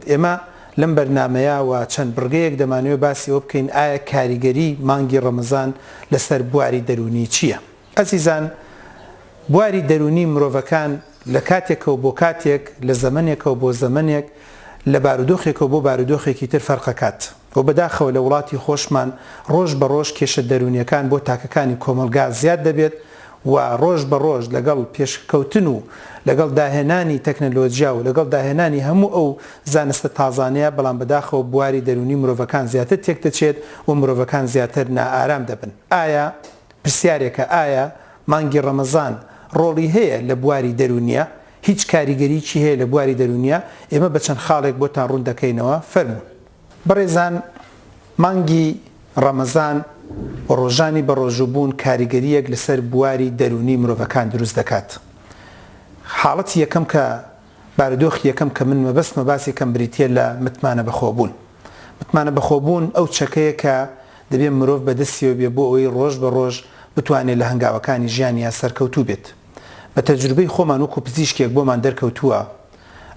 ئێمە لەم بەرنامەیە و چەند بڕگەیەک دەمانەوێت باسی ئەوە بکەین ئایا کاریگەری مانگی ڕەمەزان لەسەر بواری دەروونی چییە؟ ئەزیزان بواری دەروونی مرۆڤەکان لە کاتێکەوە بۆ کاتێک، لە زەمەنێکەوە بۆ زەمەنێک، لە بارودۆخێکەوە بۆ بارودۆخێکی تر فەرقەکات و بەداخەوە لە وڵاتی خۆشمان ڕۆژ بە ڕۆژ کێشە دەروونیەکان بۆ تاکەکانی کۆمەڵگا زیاد دەبێت و ڕۆژ بە ڕۆژ لەگەڵ پێشکەوتن و لەگەڵ داهێنانی تەکنەلۆجیا و لەگەڵ داهێنانی هەموو ئەو زانستە تازانەیە بەڵام بەداخەوە بواری دەروونی مرۆڤەکان زیاتر تێکدەچێت و مرۆڤەکان زیاتر نائارام دەبن ئایا پرسیارێکە ئایا مانگی ڕەمەزان ڕۆڵی هەیە لە بواری دەروونیا؟ هیچ کاریگەریی هەیە لە بواری دەروونیا؟ ئێمە بە چەند خاڵێک بۆتان ڕوون دەکەینەوە فەرموون. بەڕێزان مانگی ڕەمەزان و ڕۆژانی بەڕۆژووبوون کاریگەرییەک لەسەر بواری دەروونی مرۆڤەکان دروست دەکات. حاڵەتی یەکەم کە. بارودۆخی یەکەم کە من مەبەستمە باسی کەم بریتییە لە متمانە بەخۆبوون. متمانە بەخۆبوون ئەو چەکەیە کە دەبێ مرۆڤ بەدەستیەوە بێ بۆ ئەوەی ڕۆژ بە ڕۆژ بتوانێ لە هەنگاوەکانی ژیانیا سەرکەوتوو بێت. بە تەجروبەی خۆمان وەکوو پزیشکێک بۆمان دەرکەوتووە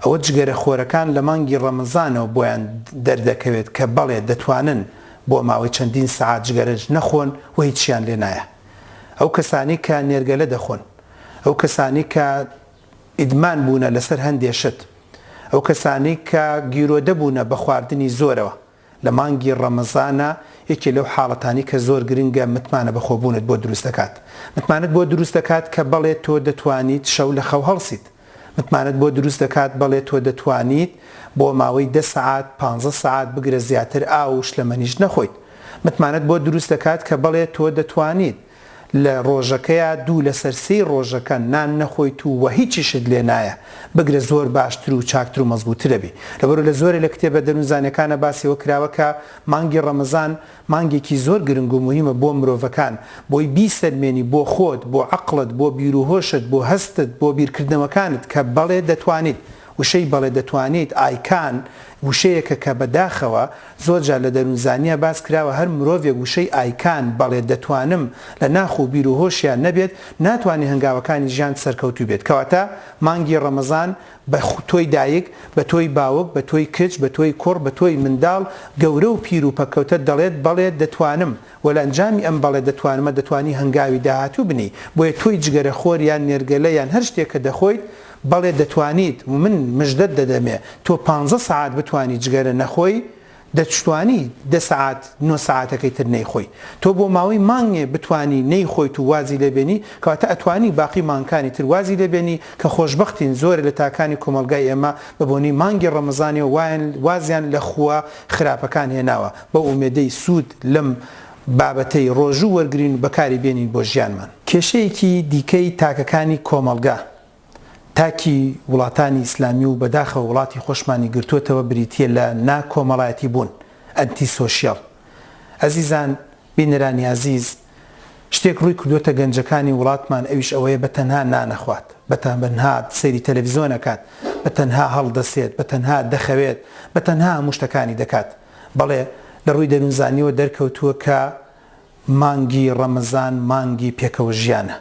ئەوە جگەرە خۆرەکان لە مانگی ڕەمەزانەوە بۆیان دەردەکەوێت کە بەڵێ دەتوانن بۆ ماوەی چەندین سەعات جگەرەش نەخۆن و هیچیان لێ نایە. ئەو کەسانەی کە نێرگەلە دەخۆن. ئەو کەسانەی کە. ئیدمان بوونە لەسەر هەندێ شت، ئەو کەسانەی کە گیرۆدە بوونە بە خواردنی زۆرەوە لە مانگی ڕەمەزانا یەکێ لەو حاڵەتانەی کە زۆر گرنگە متمانە بە خۆبوونت بۆ دروست دەکات متمانەت بۆ دروست دەکات کە بەڵێ تۆ دەتوانیت شەو لە خەو هەڵسیت متمانەت بۆ دروست دەکات بەڵێ تۆ دەتوانیت بۆ ماوەی دە سەعات پانزە سەعات بگرە زیاتر ئاو و شلەمەنیش نەخۆیت متمانەت بۆ دروست دەکات کە بەڵێ تۆ دەتوانیت لە ڕۆژەکەیا دوو لەسەر سێی ڕۆژەکە نان نەخۆیت و وە هیچیشت لێ نایە بگرە زۆر باشتر و چاکتر و مەزبووتر ئەبی لەبەرو لە زۆرێ لە کتێبە دەروونزانەکانا باسی ئەوە کراوە کە مانگی ڕەمەزان مانگێکی زۆر گرنگ و موهیمە بۆ مرۆڤەکان بۆی بیسەلمێنی بۆ خۆت بۆ عەقڵت بۆ بیروهۆشت بۆ هەستت بۆ بیرکردنەوەکانت کە بەڵێ دەتوانیت وشەی بەڵێ دەتوانیت، I can، وشەیەکە کە بە داخەوە زۆر جار لە دەروونزانییا باس کراوە هەر مرۆڤێک وشەی، I can، بەڵێ دەتوانم، لە ناخ و بیر و هۆشیا نەبێت ناتوانێ هەنگاوەکانی ژیان سەرکەوتوو بێت کەواتە مانگی ڕەمەزان بە تۆی دایک بە تۆی باوک بە تۆی کچ بە تۆی کوڕ بە تۆی منداڵ گەورە و پیر و پەککەوتە دەڵێت بەڵێ دەتوانم وە لە ئەنجامی ئەم بەڵێ دەتوانمە دەتوانی هەنگاوی داهاتوو بنێی بۆیە تۆی جگەرە خۆر یان نێرگەلە یان هەر شتێک کە دەخۆیت بەڵێ دەتوانیت و من مژدەت دەدەمێ تۆ پانزە سەعات بتوانی جگەرە نەخۆی دەتشتوانی دە سەعات نۆ سەعاتەکەی تر نەیخۆی تۆ بۆ ماوەی مانگێ بتوانی نەیخۆیت و وازی لێ بێنی کەواتە ئەتوانی باقی مانگکانی تر وازی لێ بێنی کە خۆشبەختین زۆرێ لە تاکانی کۆمەڵگای ئێمە بە بۆنەی مانگی ڕەمەزانیەوە وایان وازیان لە خووە خراپەکان هێناوە بەو ئومێدەی سوود لەم بابەتەی ڕۆژوو وەرگرین و بەکاری بێنین بۆ ژیانمان. کێشەیەکی دیکەی تاکەکانی کۆمەڵگە، تاکی وڵاتانی ئیسلامی و بەداخەوە وڵاتی خۆشمانی گرتووەتەوە بریتییە لە نا کۆمەڵایەتی بوون، ئەنتی سۆشیال. ئەزیزان، بینەرانی ئازیز، شتێک ڕووی کردووەتە گەنجەکانی وڵاتمان ئەویش ئەوەیە بە تەنها نانەخوات، بە تەنها سەیری تەلەڤیزۆن ئەکات، بە تەنها هەڵدەسێت، بە تەنها دەخەوێت، بە تەنها هەموو شتەکانی دەکات. بەڵێ لە ڕووی دەروونزانیەوە دەرکەوتووە کە مانگی ڕەمەزان مانگی پێکەوە ژیانە،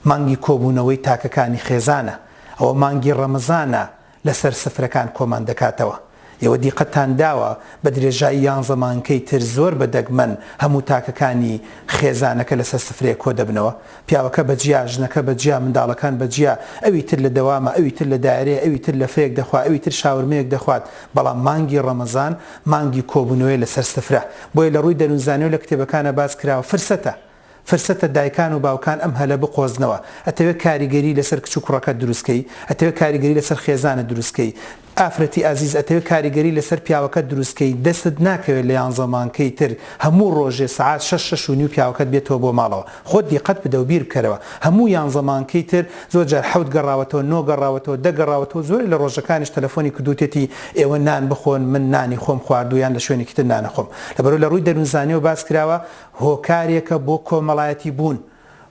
مانگی کۆبوونەوەی تاکەکانی خێزانە، ئەوە مانگی ڕەمەزانە لەسەر سفرەکان کۆمان دەکاتەوە. ئێوە دیقەتتان داوە بە درێژایی یانزە مانگەی تر زۆر بە دەگمەن هەموو تاکەکانی خێزانەکە لەسەر سفرەیەک کۆدەبنەوە، پیاوەکە بە جیا، ژنەکە بە جیا، منداڵەکان بە جیا، ئەوی تر لە دەوامە، ئەوی تر لە دایرەیە، ئەوی تر لەفەیەک دەخوا، ئەوی تر شاورمەیەک دەخوات، بەڵام مانگی ڕەمەزان مانگی کۆبوونەوەیە لەسەر سفرە، بۆیە لە ڕووی دەروونزانی و لە کتێبەکانا باس کراوە فرسەتە، فرسەتە دایکان و باوکان ئەم هەلە بقۆزنەوە، ئەتەوێ کاریگەری لەسەر کچ و کوڕەکەت دروست کەی؟ ئەتەوێ کاریگەری لەسەر خێزانت دروست کەی؟ ئافرەتی ئازیز ئەتەوێ کاریگەری لەسەر پیاوەکەت دروست کەی دەستت ناکەوێت لە یانزە مانکەی تر هەموو ڕۆژێ سەعات شەش شەش و نیو پیاوەکەت بێتەوە بۆ ماڵەوە خۆت دیقەت بدە و بیربکەرەوە هەموو یانزە مانکەی تر زۆر جار حەوت گەڕاوەتەوە نۆ گەڕاوەتەوە دە گەڕاوەتەوە زۆرێ لە ڕۆژەکانیش تەلەفۆنی کردوتێتی ئێوە نان بخۆن من نانی خۆم خواردوە یان لە شوێنێکی تر نانەخۆم لەبەرو لە ڕووی دەرونزانیەوە باس کراوە هۆکارێکە بۆ کۆمەڵایەتی بوون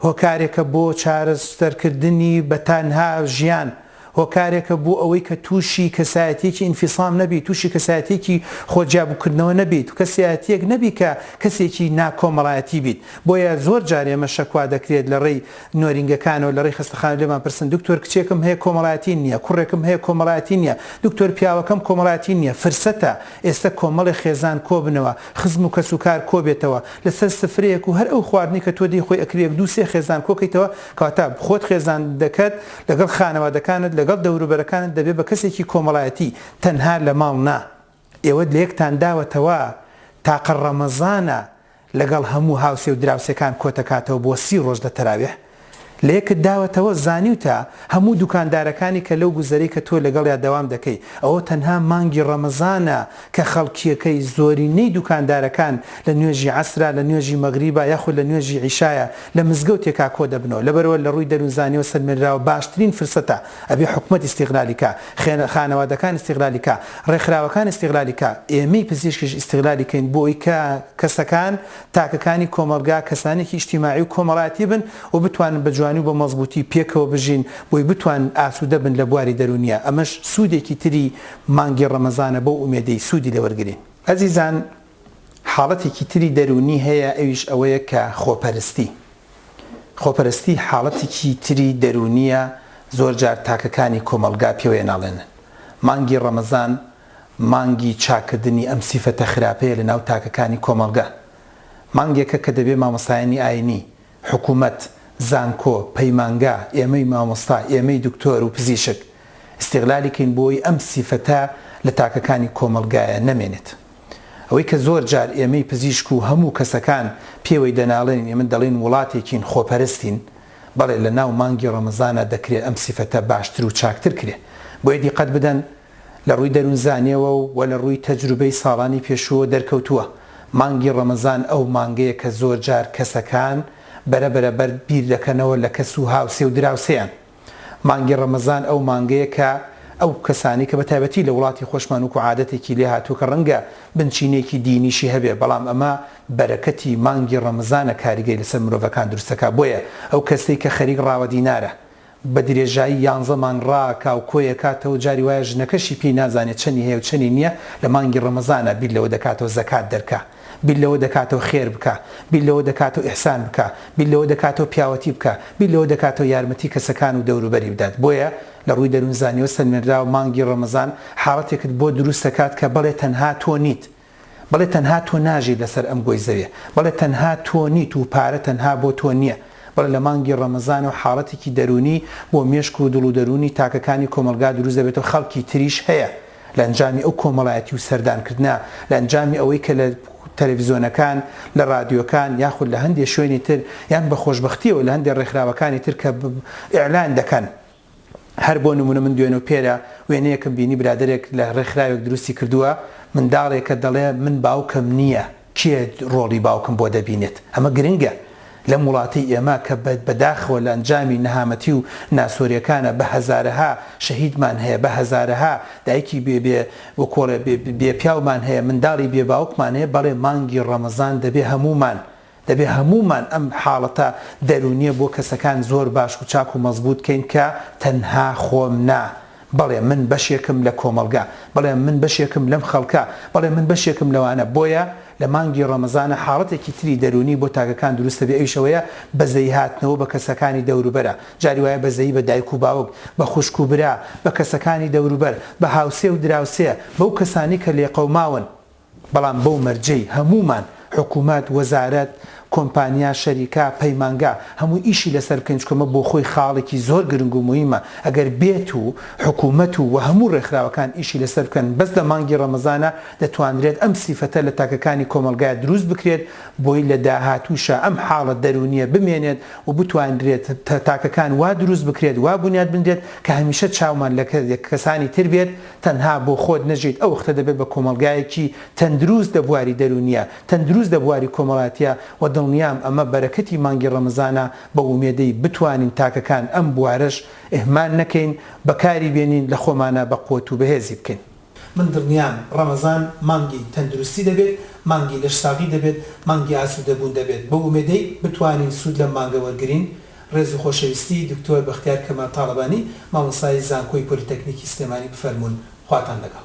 هۆکارێکە بۆ چارەسەرکردنی بە تەنها ژیان، هۆکارێکە بۆ ئەوەی کە تووشی کەسایەتییەکی ئینفیسام نەبیت، تووشی کەسایەتییەکی خۆ جیابووکردنەوە نەبیت، کەسیاتییەک نەبیت کە کەسێکی ناکۆمەڵایەتی بیت. بۆیە زۆر جار ئێمە شەکوا دەکرێت لە ڕێی نۆرینگەکانەوە، لە ڕێی خەستەخانەوە لێمان پرسن، دکتۆر کچێکم هەیە کۆمەڵایەتی نییە، کوڕێکم هەیە کۆمەڵایەتی نییە، دکتۆر پیاوەکەم کۆمەڵایەتی نییە. فرسەتە ئێستە کۆمەڵێ خێزان کۆبنەوە، خزم و کەس و کار کۆبێتەوە لەسەر سفرەیەک و هەر ئەو خواردنەی کە تۆ دەیخۆی ئەکری یەک دوو سێ خێزان کۆکەیتەوە کەواتە خۆت خێزاندەکەت لەگەڵ خانەوادەکانت لەگەڵ دەوروبەرەکانت دەبێت بە کەسێکی کۆمەڵایەتی تەنها لە ماڵ نا ئێوە لە یەکتان داوەتەوە تاقە ڕەمەزانە لەگەڵ هەموو هاوسێ و دراوسێکان کۆتەکاتەوە بۆ سی ڕۆژ لە تەراویح لەیەکت داوەتەوە زانیوتە هەموو دوکاندارەکانی کە لەو گوزەرەی کە تۆ لەگەڵیا دەوام دەکەی ئەوە تەنها مانگی ڕەمەزانە کە خەڵکیەکەی زۆرینەی دوکاندارەکان لە نوێژی عەسرە لە نوێژی مەغریبە یاخود لە نوێژی عیشایە لە مزگەوتێکا کۆدەبنەوە لەبەرئەوە لە ڕووی دەرون زانیەوە سەلمێنراوە باشترین فرسەتە ئەبێ حکومەت ئیستیغلالی کا خانەوادەکان ئیستیغلالی کا ڕێکخراوەکان ئیستیغلالی کا ئێمەی پزیشکیش ئیستیغلالی کەین بۆ ئەوەی کە کەسەکان تاکەکانی کۆمەڵگا کەسانێکی ئیجتیماعی و کۆمەڵایەتی بن و بتوانن بە جوانی و بە مەزبووتی پێکەوە بژین بۆی بتوانن ئاسوودە بن لە بواری دەروونیا ئەمەش سوودێکی تری مانگی ڕەمەزانە بەو ئومێدەی سوودی لێوەرگرین. ئەزیزان حاڵەتێکی تری دەروونی هەیە ئەویش ئەوەیە کە خۆپەرستی خۆپەرستی حاڵەتێکی تری دەروونیە زۆرجار تاکەکانی کۆمەڵگا پێوەی ناڵێنن مانگی ڕەمەزان مانگی چاککردنی ئەم سیفەتە خراپەیە لە ناو تاکەکانی کۆمەڵگە. مانگێکە کە دەبێ مامۆستایانی ئاینی، حکوومەت، زانکۆ، پەیمانگا، ئێمەی مامۆستا، ئێمەی دکتۆر و پزیشک، ئیستیغلالی کەین بۆی ئەم سیفەتە لە تاکەکانی کۆمەڵگایە نەمێنێت. ئەوەی کە زۆر جار ئێمەی پزیشک و هەموو کەسەکان پێوەی دەناڵێنین ئێمە دەڵێین وڵاتێکین خۆپەرستین، بەڵێ لە ناو مانگی ڕەمەزانا دەکرێ ئەم سیفەتە باشتر و چاکتر کرێ. بۆیە دیقەت بدەن لە ڕووی دەروونزانیەوە و وە لە ڕووی تەجروبەی ساڵانی پێشووەوە دەرکەوتووە مانگی ڕەمەزان ئەو مانگەیە کە زۆر جار کەسەکان بەرە بەرە بەرد بیر دەکەنەوە لە کەس و هاوسێ و دراوسێیان مانگی ڕەمەزان ئەو مانگەیە کە ئەو کەسانەی کە بە تایبەتی لە وڵاتی خۆشمان وکو عادەتێکی لێ هاتووە کە ڕەنگە بنچینەیەکی دینیشی هەبێ بەڵام ئەمە بەرەکەتی مانگی ڕەمەزانە کاریگەری لەسەر مرۆڤەکان دروست دەکا بۆیە ئەو کەسەی کە خەریک ڕاوە دینارە بە درێژایی یانزە مانگ ڕا کا و کۆیە کاتەوە جاری وایە ژنەکەشی پێی نازانێ چەنی هەیە و چەنی نیە لە مانگی ڕەمەزانا بیر لەوە دەکاتەوە زەکات دەرکا بیر لەوە دەکاتەوە خێر بکا بیر لەوە دەکاتەوە ئیحسان بکا بیر لەوە دەکاتەوە پیاوەتی بکا بیر لەوە دەکاتەوە یارمەتی کەسەکان و دەوروبەری بدات بۆیە لە ڕووی دەروونزانیەوە سەلمێنراوە مانگی ڕەمەزان حاڵەتێکت بۆ دروست دەکات کە بەڵێ تەنها تۆ نیت بەڵێ تەنها تۆ ناژیت لەسەر ئەم گۆی زەوێ بەڵێ تەنها تۆ نیت و پارە تەنها بۆ تۆ نیە بەڵێ لە مانگی ڕەمەزانە و حاڵەتێکی دەرونی بۆ مێشک و دڵ و دەرونی تاکەکانی کۆمەڵگا دروست دەبێت و خەڵکی تریش هەیە لە ئەنجامی ئەو کۆمەڵایەتی و سەردان کردنە لە ئەنجامی ئەوەی کە لە تەلەفزیۆنەکان لە ڕادیۆکان یاخود لە هەندێ شوێنی تر یان بە خۆشبەختیەوە لە هەندێ ڕێکخراوەکانی تر کە ئیعلان دەکەن هەر بۆ نمونە من دوێنەو پێرە وێنەیەکم بینی برادەرێک لە ڕێکخراوێک دروستی کردوە منداڵێکە دەڵێ من باوکم نیە کێ ڕۆڵی باوکم بۆ دەبینێت ئەمە گرنگە لەم وڵاتەی ئێمە کە بە داخەوە لە ئەنجامی نەهامەتی و ناسۆرێکانە بە هەزارەها شەهیدمان هەیە بە هەزارەها دایکی بێ بێ وکۆڵێ بێ پیاومان هەیە منداڵی بێ باوکمان هەیە بەڵێ مانگی ڕەمەزان دەبێ هەمومان دەبێ هەموومان ئەم حاڵەتە دەروونییە بۆ کەسەکان زۆر باش و چاک و مەزبووت کەین کە تەنها خۆم نا، بەڵێ من بەشێکم لە کۆمەڵگە، بەڵێ من بەشێکم لەم خەڵکە، بەڵێ من بەشێکم لەوانە، بۆیە لە مانگی ڕەمەزانە حاڵەتێکی تری دەروونی بۆ تاکەکان دروست دەبێ ئەویش ئەوەیە بەزەیی هاتنەوە بە کەسەکانی دەوروبەرە، جاری وایە بەزەیی بە دایک و باوک، بە خوشک و برا، بە کەسەکانی دەوروبەر، بە هاوسێ و دراوسێ، بەو کەسانەی کە لێقەوماون، بەڵام بەو مەرجەی هەموومان، حکومەت، وەزارەت، کۆمپانیا، شەریکە، پەیمانگا، هەمووی ئیشی لەسەر بکەین، چونکە مە بۆخۆی خاڵێکی زۆر گرنگ و موهیمە، ئەگەر بێت و حکومەت و و هەموو ڕێکخراوەکان ئیشی لەسەر بکەن، بەس لە مانگی ڕەمەزانا دەتوانرێت ئەم سیفەتە لە تاکەکانی کۆمەڵگا دروست بکرێت، بۆی لە داهاتووشا ئەم حاڵە دەروونییە بمێنێت و بتوانرێت تاکەکان وا دروست بکرێت، وا بونیاد بنرێت کە هەمیشە چاومان لە کەسانی تر بێت، تەنها بۆ خۆت نەژیت ئەو وەختە دەبێت بە کۆمەڵگایەکی تەندروست لە بواری دەرونیە تەندروست لە بواری کۆمەلاتیە وە دڵنیام ئەمە بەرەکەتی مانگی ڕەمەزانە بە ومێدەی بتوانین تاکەکان ئەم بوارەش اهمال نەکەین بەکاری بێنین لە خۆمانا بە قوەت و بەهێزی بکەین. من دڵنیام ڕەمەزان مانگی تەندروستی دەبێت مانگی لەش ساغی دەبێت مانگی ئاسودەبون دەبێت بە ومێدەی بتوانین سود لەم مانگە وەرگرین ڕێز و خۆشەویستی دکتۆر بەختیار کەمال تاڵەبانی مامۆستای زانکۆی پۆلیتەکنیکی سلێمانی بفەرموون خواتان لەگەڵ.